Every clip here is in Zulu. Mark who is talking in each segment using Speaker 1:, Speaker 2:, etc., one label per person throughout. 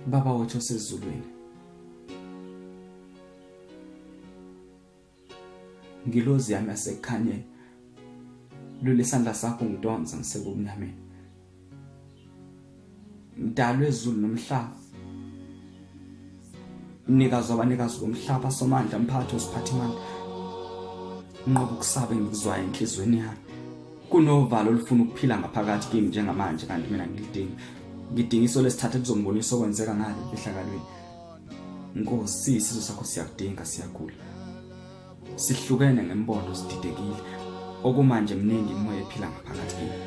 Speaker 1: Baba wethu osezulwini ngilozi yami asekukhanyeni lule sandla sakho ngidonsa ngisekubunameni mdalo ezulu nomhlaba mnikazi wabanikazi bomhlaba somandla mphathi osiphathimandla nqoba ukusaba engikuzwayo enhliziyweni yami kunovalo olufuna ukuphila ngaphakathi kimi njengamanje kanti mina ngilidingi ngidinga iso lesithatha lizombonisa okwenzeka ngale ehlakalweni nkosi sizo sakho siyakudinga siyagula Sihlukene ngembondo sididekile. Okumanje mningi imoya ephila ngaphakathi kimi.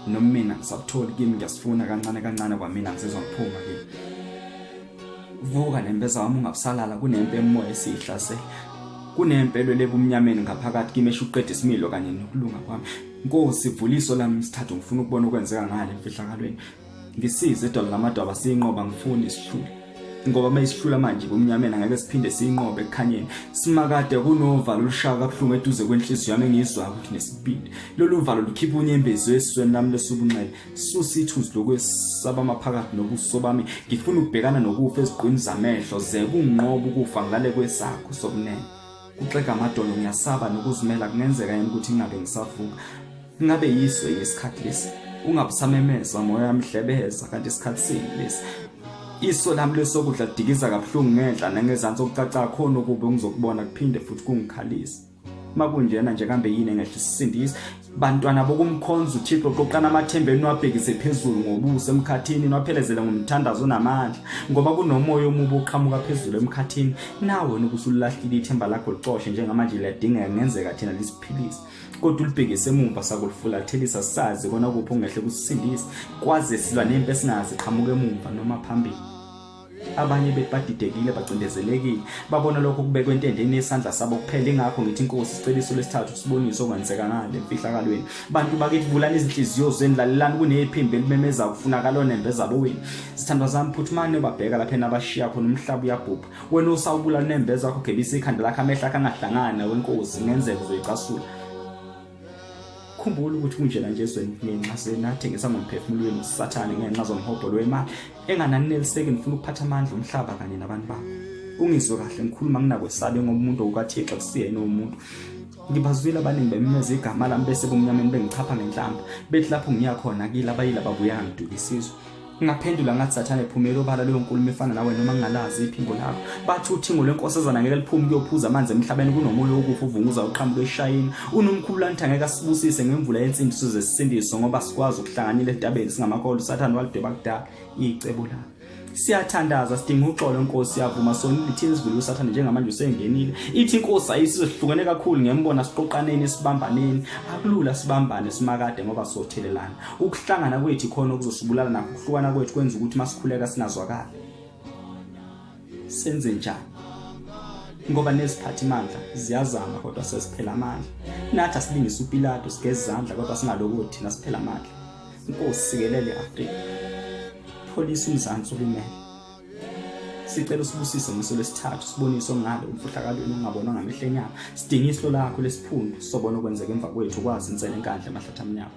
Speaker 1: Noma mina ngisabutholi kimi ngiyasifuna kancane kancane kwamina ngisizwa ngiphuma kimi. Vuka nempeza wami ungabusalala kunempe emoya esihlasela. Kunempe elwele ebumnyameni ngaphakathi kimi eshuqeda isimilo kanye nokulunga kwami. Nkosi vuliso lami sithathu ngifuna ukubona okwenzeka ngale mfihlakalweni. ngisize edolo lamadwaba siyinqoba ngifuni isihlule ngoba uma isihlula manje kumnyameni angeke siphinde siyinqobe ekukhanyeni simakade kunovalo olushaya kabuhlungu eduze kwenhliziyo yami engiyizwayo ukuthi nesibindi lolu valo lukhipha unyembezo esizweni lami lesubunxele susa ithuzi lokwesaba amaphakathi nobuso bami ngifuna ukubhekana nokufa ezigqwini zamehlo ze kunqoba ukufa ngale kwesakho sobunene kuxega amadolo ngiyasaba nokuzimela kungenzeka yini ukuthi ngingabe ngisavuka ingabe yiso yesikhathi lesi ungabusamemeza moya yamhlebeza kanti isikhathi sini lesi iso lami lesokudla dikiza kabuhlungu ngenhla nangezansi okucaca khona ukuba ngizokubona kuphinde futhi kungikhalisa makunjena nje kambe yini engehlisa isindisi Bantwana bokumkhonza uThixo qoqana amathemba enu abhekise phezulu ngobuso emkhathini nwaphelezele ngomthandazo onamandla ngoba kunomoya omubi oqhamuka phezulu emkhathini nawe wena ubusululahlile ithemba lakho licoshe njengamanje liyadingeka kungenzeka thina lisiphilise kodwa ulibhekise emumva sakulufulathelisa sazi kona kuphi ongehle kusisindise kwaze silwa nempi esingazi qhamuka emumva noma phambili abanye bethu badidekile bacindezelekile babona lokho kubekwe entendeni yesandla sabo kuphela ingakho ngithi inkosi isiceliso lesithathu siboniso kwenzeka ngale mfihlakalweni bantu bakithi vulani izinhliziyo zenu lalelani kunephimbo elimemeza kufunakala onembe zabo wenu sithandwa zami phuthumane babheka lapha enabashiya khona umhlaba uyabhubha wena usawubula nembe zakho gebisa ikhanda lakho amehla akhe angahlangana wenkosi ngenzeka uzoyicasula khumbula ukuthi kunjena nje ezweni ngenxa senathengisa ngomphefumulo wenu sathane ngenxa zomhobholo wemali engananineliseki nifuna ukuphatha amandla omhlaba kanye nabantu babo ungizwe kahle ngikhuluma nginakwesabe ngoba umuntu okukathixo kusiyena umuntu ngibazwile abaningi bemimeza igama lami bese kumnyameni bengichapha ngenhlamba bethi lapho ngiya khona kile abayile ababuya ngidukisizwe Ngaphendula ngathi sathane phumela obala leyo nkulumo efana nawe noma ngingalazi iphimbo lakho. Bathi uthingo lenkosazana ngeke liphume kuyophuza amanzi emhlabeni kunomoya wokufa uvunguza uqhamuka eshayini. Unomkhulu lanthi angeke asibusise ngemvula yensindiso zesisindiso ngoba sikwazi ukuhlanganyela entabeni singamakolo usathane walidweba kudala icebo lakhe. siyathandaza sidinga uxolo inkosi yavuma sonile ithini sivile usathane njengamanje usengenile ithi inkosi ayisizohlukene kakhulu ngembona siqoqaneni sibambaneni akulula sibambane simakade ngoba sothelelana ukuhlangana kwethu khona okuzosibulala nakho ukuhlukana kwethu kwenza ukuthi masikhuleka singazwakala senze njani ngoba neziphathi mandla ziyazama kodwa sesiphela amandla nathi asilingisa upilato sigeza izandla kodwa singaloko thina siphela amandla inkosi sikelele i-afrika pholisa umzansi ulimele sicela usibusise ngosuku lwesithathu sibonise ongale umfuhlakalweni ongabonwa ngamehlo enyama sidinge isilo lakho lesiphundu sobona okwenzeka emva kwethu kwazi insela enkandla amahlathi amnyama